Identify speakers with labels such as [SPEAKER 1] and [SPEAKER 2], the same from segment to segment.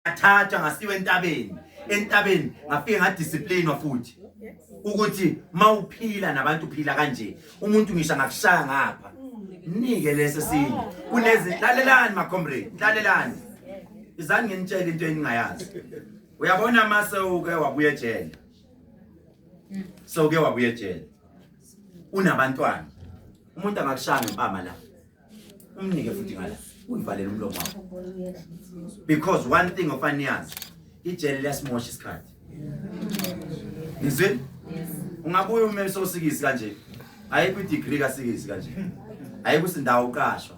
[SPEAKER 1] ngathatha ngasiwa entabeni entabeni ngafike ngadisciplinwa futhi ukuthi mawuphila nabantu uphila kanje umuntu ngisha ngakushaya ngapha nike lesi sinye kunezi lalelani ma comrade lalelani izani nginitshela into eningayazi uyabona mase uke wabuye ejele so uke wabuye ejele unabantwana umuntu angakushaya ngempama la umnike futhi ngala uyivalele umlomo wakho because one thing ofaniyazi ijele liyasimosha isikhathi ngizwini ungabuye ume sosikisi kanje ayikho idegree kasikisi kanje ayikho isindawo uqashwa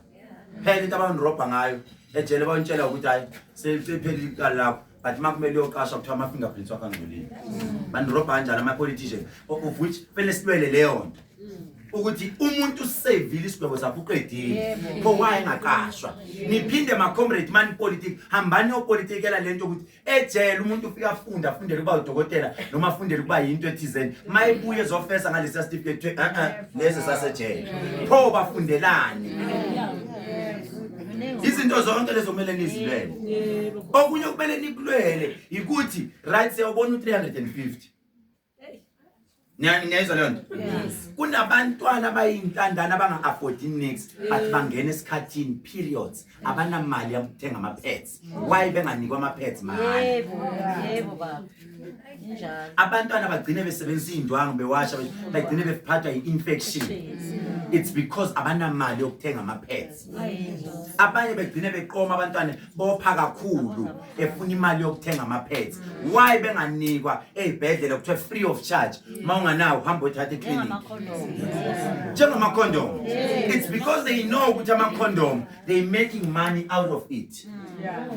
[SPEAKER 1] phela into abanirobha ngayo ejele bayintshela ukuthi hayi sephelile iqala lakho but uma kumele uyoqasha kuthiwa ama-fingerprints wakho angcolile banirobha kanjani ama-politician of which kumele silwele leyo nto ukuthi umuntu usevile isigwebo sakho uqedile pho waye engaqashwa niphinde macomrade mani politiki hambani yopolitikela le nto ukuthi ejele umuntu ufike afunde afundele ukuba udokotela noma afundele ukuba yinto ethizeni ma ebuye ezofesa ngalesiya sitifiketi kuthiwe e-e lesi sasejele pho bafundelani izinto zonke lezo kumele nizilwele okunye kumele nikulwele yikuthi right siyawubona u-350 niyayizwa leyo nto kunabantwana abayintandana abanga-affordi nix but bangena esikhathini periods abanamali yokuthenga ama-pets why benganikwa ama pads mahhala yebo
[SPEAKER 2] yebo baba injalo abantwana bagcine
[SPEAKER 1] besebenzisa indwangu bewasha bagcine bephathwa i-infection it's because abanamali yokuthenga ama pads abanye begcine beqoma abantwana bopha kakhulu efuna imali yokuthenga ama pads why benganikwa ezibhedlela kuthiwa free of charge uma unganawo hamba othatha iclinic njengama condom it's because they know ukuthi ama condom they making money out of it mm. yeah.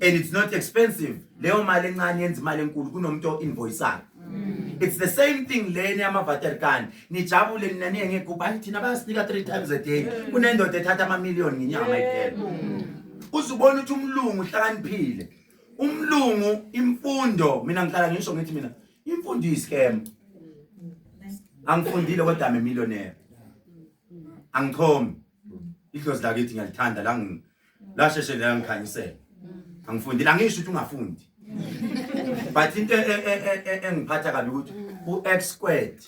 [SPEAKER 1] and it's not expensive leyo mali encane yenza imali enkulu kunomuntu o-invoisayo mm. it's the same thing leni yamavaterikani nijabule nina niye ngegubhu ayi thina bayasinika three times a day mm. kunendoda ethatha amamiliyoni ngenyanga mayiphela uze ubone ukuthi umlungu uhlakaniphile umlungu imfundo mina ngihlala ngisho ngithi mina imfundo iyiscam angifundile kodwa ame millionaire angichomi idlozi lakithi ngiyalithanda la lasheshe la ngikhanyisela angifundi la ngisho ukuthi ungafundi but into e, e, e, engiphatha kabi ukuthi u-x squared